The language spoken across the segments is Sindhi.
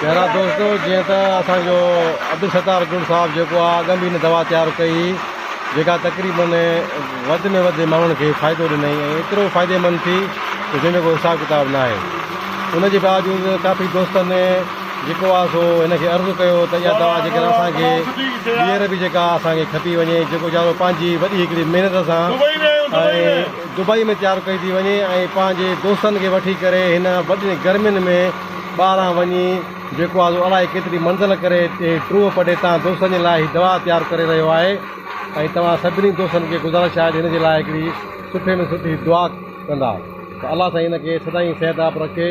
پيارا دوستو جيئن ته اسان جو عبدالستار گل صاحب جيڪو آهي ڳنڍي نه دوا تيار ڪئي جيڪا تقريبن وڌ ۾ وڌ ماڻهن کي فائدو ڏنائي ۽ ايترو فائدي مند ٿي جنهن جو ڪو حساب ڪتاب ناهي ان جي باوجود ڪافي دوستن جيڪو آ سو هن کي عرض ڪيو ته اها دوا جيڪر اسان کي ٻيهر به جيڪا اسان کي کپي وڃي جيڪو جا سو پنهنجي وڏي هڪڙي محنت سان ۽ دبئي ۾ تيار ڪئي ٿي وڃي ۽ پنهنجي دوستن کي وٺي ڪري هن وڏين گرمين ۾ ٻاهران وڃي جيڪو آ سو الاهي ڪيتري منزل ڪري هتي ٽوهه پٽي تان دوستن جي لاء هي دوا تيار ڪري رهيو آهي ۽ توهان سڀني دوستن کي گذارش آهي ته هن جي لاء هڪڙي سٺي ۾ سٺي دعا ڪندا ته الله سائين هن کي سدائين صحت ياب رکي.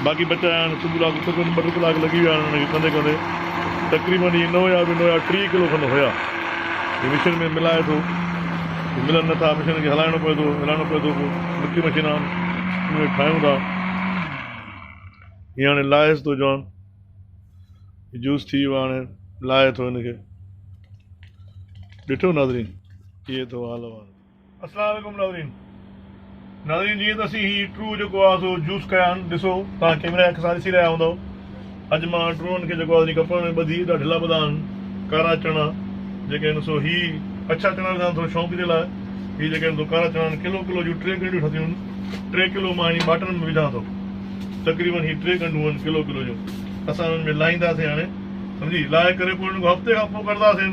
باقي بچا آهن صبح لاء تقريبن ٻه ٽي ڪلاڪ لڳي ويا آهن انهن کي ڪندي ڪندي تقريبن اهي نه هيا به نه هيا ٽيهه ڪلو کن هيا هي مشين ۾ ملائي ٿو هي ملن نه ٿا مشين کي هلائڻو پوي ٿو هلائڻو پوي ٿو پوء مٺي مشين آهن ان کي ٺاهيون ٿا هي هاڻي لائيس ٿو جوان هي جوس ٿي ويو هاڻي لائي ٿو هن کي ڏٺو ناظرين ڪيئي ٿو حال وال. السلام عليڪم ناظرين ناظرين جيئن ته اسين هي ٽرو جيڪو آ سو جوس ڪيا آهن ڏسو توهان ڪيمرا اک سان ڏسي رهيا هوندو اڄ مان ٽرون کي جيڪو آ ڪپڙن ۾ ٻڌي ايڏا ڍلا ٻڌا آهن ڪارا چڻا جيڪي آهن سو هي اڇا چڻا رکان ٿورو شوق جي لاء هي جيڪي آهن سو ڪارا چڻا آهن ڪلو ڪلو جون ٽي ڳنڍيون ٺتيون آهن ٽي ڪلو مان هي ٻاٽن ۾ وجهان ٿو تقريبن هي ٽي ڳنڍون آهن ڪلو ڪلو جون اسان هنن ۾ لاهينداسين هاڻي سمجهي لاهي ڪري پوء هنن کان هفتي کان پوء ڪڍنداسين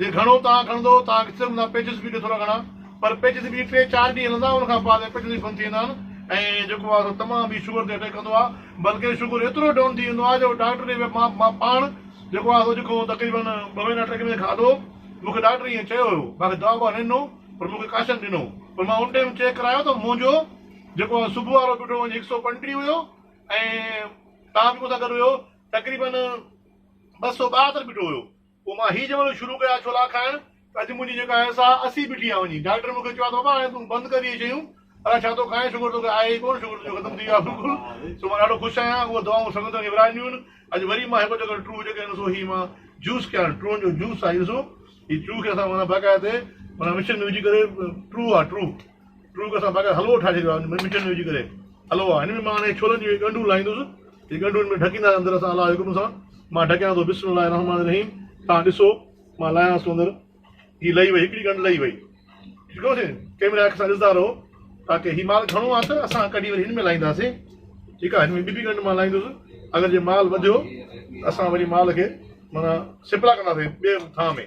جي گهڻو تاء کڻندو تاء کي صرف نه پيچز به ڏيو ٿورا گهڻا پر پيچز به ٽي چار ڏينهن هلندا ان کان بعد پيچز به بند ٿي ويندا آهن ۽ جيڪو آهي سو تمام ئي شگر تي اٽيڪ ڪندو آهي بلڪه شگر ايترو ڊائون ٿي ويندو آهي جو ڊاڪٽر ڏي مان مان پاڻ جيڪو آهي سو جيڪو تقريبن ٻه مهينا ٽي مهينا کاڌو مون کي ڊاڪٽر ائين چيو هيو مان کي دوا ٻوا نه ڏنو پر مون کي ڪاشن ڏنو پر مان ان ٽائيم چيڪ ڪرايو ته منهنجو جيڪو آهي صبح وارو بيٺو وڃي هڪ سؤ پنٽيهه هيو ۽ تاء به مون سان گڏ هيو تقريبن ٻه سؤ ٻاهتر بيٺو هيو پوء مان هي جملو شروع ڪيا ڇولا کائڻ ته اڄ منهنجي جيڪا اهي ساهه اسي بيٺي آ وڃي ڊاڪٽر مون کي چيو آ ته بابا هاڻي تون بند ڪر اهي شيون الاء ڇا ٿو کائين شگر توکي آهي ئي ڪون شگر تنهنجو ختم ٿي ويو آ بلڪل سو مان ڏاڍو خوش آهيان اهي دعائون سنگت کي ورهائينديون آهن اڄ وري مان هڪ جيڪڏهن ٽرو هجي ڪيم سو هي مان جوس ڪيان ٽرون جو جوس آ هي ڏسو هي ٽرو کي اسان معنيٰ باقاعده معنيٰ مشين ۾ وجهي ڪري ٽرو آ ٽرو ٽرو ڪسان بغير حلوو ٺاهي ڇڏيو آهي مٺين ۾ وجهي ڪري حلوو آهي هن ۾ مان انهي ڇولن جون اهي ڳنڍون لاهيندس جي ڳنڍون هن ۾ ڍڪيندا آهن اندر سان الله جي حڪم سان مان ڍڪيان ٿو بسم الله الرحمٰن الرحيم توهان ڏسو مان لاهيانس ٿو اندر هي لهي وئي هڪڙي ڳنڍ لهي وئي ٺيڪ آهي ڪيمرا اک سان ڏسندا رهو تاڪي هي مال گهڻو آهي ته اسان ڪڍي وري هن ۾ لاهينداسين ٺيڪ آهي هن ۾ ٻي به ڳنڍ مان لاهيندس اگر جي مال وڌيو اسان وري مال کي مانا سپلا ڪنداسين ٻئي ٿانء ۾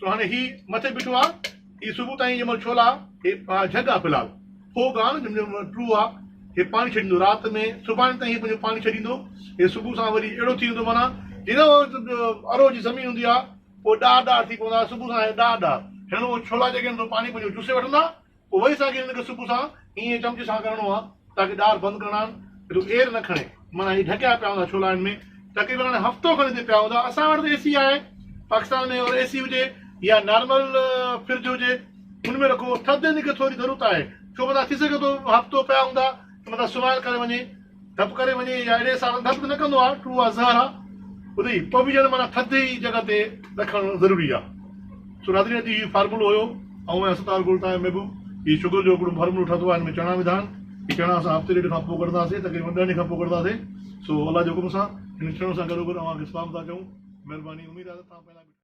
سو هاڻي هي مٿي بيٺو آ هي صبح تائين جنهن مهل ڇولا هي جهڳ آ فلحال ڦوڳ آ نه جنهن مهل ٽرو آ هي پاڻي ڇڏيندو رات ۾ سڀاڻي تائين هي پنهنجو پاڻي ڇڏيندو هي صبح سان وري اهڙو ٿي ويندو معنيٰ جنهن وقت ارو جي زمين هوندي آ پوء ڏار ڏار ٿي پوندا صبح سان هي ڏار ڏار هيڻو ڇولا جيڪي هوندو پاڻي پنهنجو چوسي وٺندا اوهين سان کي هن کي سڪو سان ائين چمچي سان ڪرڻو آهي تاڪي ڏار بند ڪرڻا آهن ايڏو اير نه کڻي معنيٰ هي ڍڪيا پيا هوندا ڇولا هن ۾ تقريبن هاڻي هفتو کن هتي پيا هوندا اسان وٽ اي سي آهي پاڪستان ۾ اور اي سي هجي يا نارمل فرج هجي ان ۾ رکو ٿڌ هن کي ٿوري ضرورت آهي ڇو مطلب ٿي سگهي ٿو هفتو پيا هوندا مطلب سوال ڪري وڃي ڌپ ڪري وڃي يا اهڙي حساب سان ڌپ ته نه ڪندو آهي ٽو اها زهر آهي ادي پوء به ڄڻ معنيٰ ٿڌي جڳهه تي رکڻ ضروري آهي سو ناظرين ادي هي فارمولو هيو آئون ۽ ستار گل تان محبوب هي شگر جو هڪڙو فارمولو ٺاهتو آهي هن ۾ چڻا وڌا آهن هي چڻا اسان هفتي ڏيڍ کان پوء ڪڍنداسين تقريبن ڏهن ڏينهن کان پوء ڪڍنداسين سو الله جي حڪم سان هن چڻن سان گڏوگڏ اوهان کي سلام ٿا چئون مهرباني اميد آهي ته توهان پنهنجا